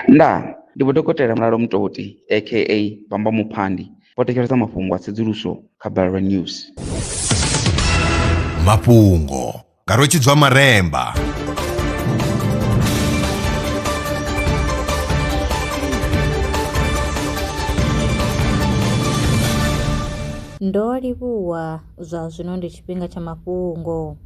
Ndaa! Ndi Vho Dokotela Mulalo Mutoti aka Bamba Muphandi vho thetshelesa mafhungo a tsedzuluso kha Balelwa News. Mafhungo nga Rwetshidzwa Maremba. Ndo livhuwa. Zwa zwino ndi tshifhinga tsha mafhungo.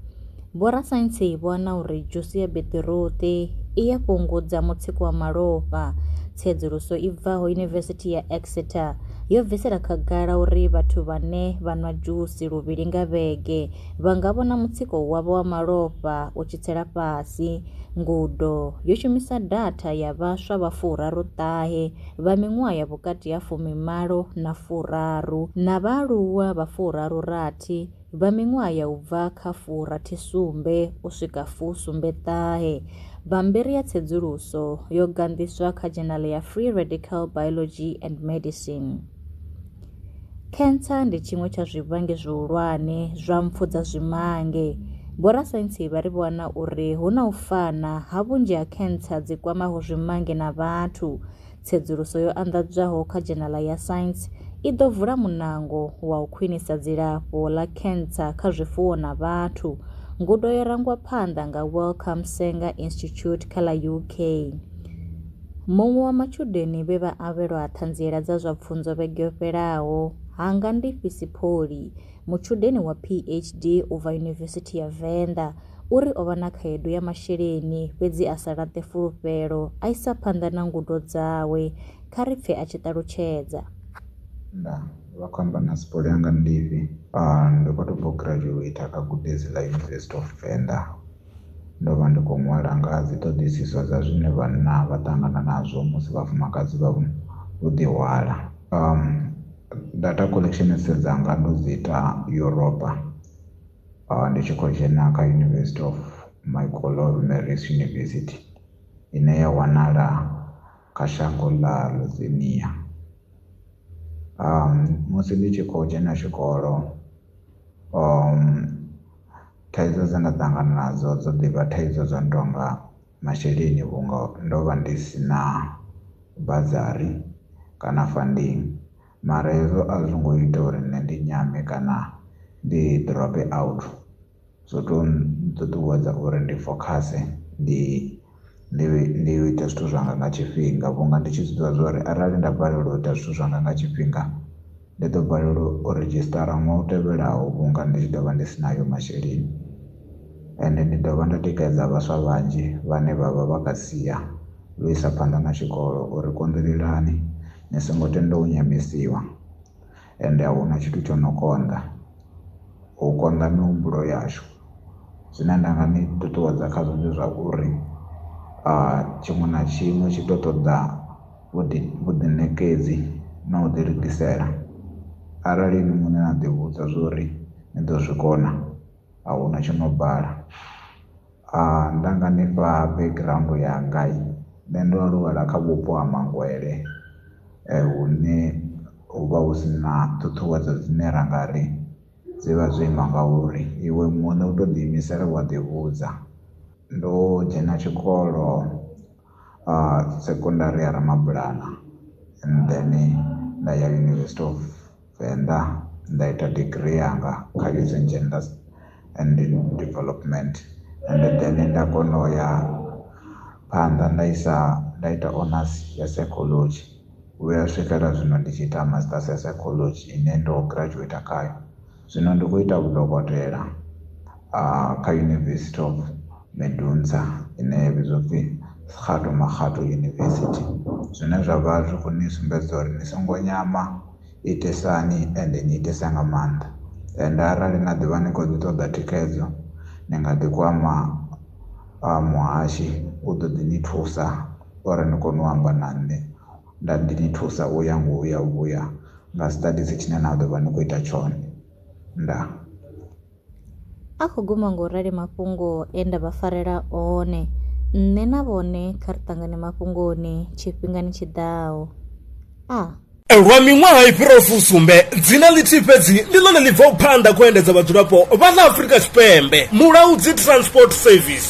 Vhorasaintsi vho wana uri dzhusi ya beṱiruṱi i ya fhungudza mutsiko wa malofha. Tsedzuluso i bvaho Yunivesithi ya Exeter yo bvisela khagala uri vhathu vhane vha nwa dzhusi luvhili nga vhege vha nga vhona mutsiko wavho wa malofha u tshi tsela fhasi. Ngudo yo shumisa datha ya vhaswa vha furaru ṱahe vha miṅwaha ya vhukati ha fumimalo na furaru na vhaaluwa vha furaru-rathi vha miṅwaha ya u bva kha furathi-sumbe u swika fu-sumbe-ṱahe. Bammbiri ya tsedzuluso yo ganḓiswa kha dzhenale ya Free Radical Biology and Medicine. Cancer ndi tshiṅwe tsha zwivhangi zwihulwane zwa mpfu dza zwimange. Vhorasaintsi vha ri vho wana uri hu na u fana ha vhunzhi ha cancer dzi kwamaho zwimange na vhathu. Tsedzuluso yo anḓadzwaho kha dzhenala ya Science i ḓo vula munango wa u khwinisa dzilafho ḽa cancer kha zwifuwo na vhathu. Ngudo yo rangwa phanḓa nga Wellcome Sanger Institute kha ḽa UK. Muṅwe wa matshudeni vhe vha avhelwa Ṱhanziela dza zwa Pfunzo vhege yo fhelaho, Hangandifhi Sipholy, mutshudeni wa PHD u bva Yunivesithi ya Venḓa, u ri o vha na khaedu ya masheleni fhedzi a sa laṱe fulufhelo, a isa phanḓa na ngudo dzawe. Kha ri pfe a tshi ṱalutshedza. Nda vha khou amba na Sipholy Hangandifhi. Ndo vha tou bva u graduater kha gudedzi ḽa University of Venḓa. ndo vha ndi kho ṅwala nga ha dzi ṱhoḓisiso dza zwine vhanna vha ṱangana nazwo musi vhafumakadzi vha vho ḓi hwala data collection sedza nga ndo dzi ita Yuropa ndi tshi khou dzhena kha University of Michael Marist University ine ya wanala kha shango ḽa Lithuania musi ndi tshi khou dzhena tshikolo . thaidzo dze nda ṱangana nadzo dzo ḓivha thaidzo dzo no tonga masheleni vhunga ndo vha ndi si na bazari kana funding mara hezwo a zwi ngo ita uri nṋe ndi nyame kana ndi drope out zwo to ṱuṱuwedza uri ndi fokhase ndi. ndi ndi u ita zwithu zwanga nga tshifhinga vhunga ndi tshi zwiḓivha zwa uri arali nda balelwa u ita zwithu zwanga nga tshifhinga ndi ḓo balelwa u redzhisṱara ṅwaha u tevhelaho vhunga ndi tshi ḓo vha ndi si nayo masheleni ende ndi dovha nda tikedza vhaswa vhanzhi vhane vha vha vha kha sia ḽo isa phanḓa na tshikolo uri konḓelelani ni songo tenda u nyamisiwa. Ende a hu na tshithu tsho no konḓa u konḓa mihumbulo yashu. Zwine nda nga ni ṱuṱuwedza khazwo ndi zwa uri tshiṅwe na tshiṅwe tshi tou ṱoḓa vhuḓi vhuḓiṋekedzi na u ḓi lugisela. Arali inwi muṋe na ḓivhudza zwa uri ni ḓo zwi kona, a hu na tsho no bala. nda nga nifha background yanga nṋe ndo aluwela kha vhupo ha mangwele hune hu vha hu si na ṱhuṱhuwedzo dzine ra nga ri dzi vha dzo ima nga uri iwe muṋe u to ḓi imisela wa ḓi vhudza ndo dzhena tshikolo sekondari ya ramabulana and then nda ya university of. Venḓa nda ita degree yanga kha Youth and Gender and Development and then nda kona u ya phanḓa nda isa nda ita honors ya psychology vhuya swikela zwino ndi tshi ita masters ya psychology ine ndo graduate khayo zwino ndi khou ita vhudokotela kha University of Medunsa ine ya vhidzwa pfhi Kgato Makgato University zwine zwa vha zwi khou ni sumbedza uri ni songo nyama itisani ende ni itisa nga maanḓa ende arali na ḓivha ni kho ḓi ṱoḓa thikhedzo ni nga ḓi kwama muhashi u ḓo ḓi ni thusa uri ni kone u amba na nṋe nda ndi ni thusa u ya ngo uya vhuya nga siṱadisi tshine na ḓovha ni kho ita tshone ndaa. A khou guma nga u rali mafhungo e nda vha farela one. Nṋe na vhone kha ri ṱangane mafhungoni tshifhingani tshi ḓaho. A. Lwa miṅwaha i fhiraho fusumbe, dzina ḽithihi fhedzi ndi ḽone ḽi bvaho phanḓa kha u endedza vhadzulapo vha ḽa Afrika Tshipembe, Mulaudzi Transport Service.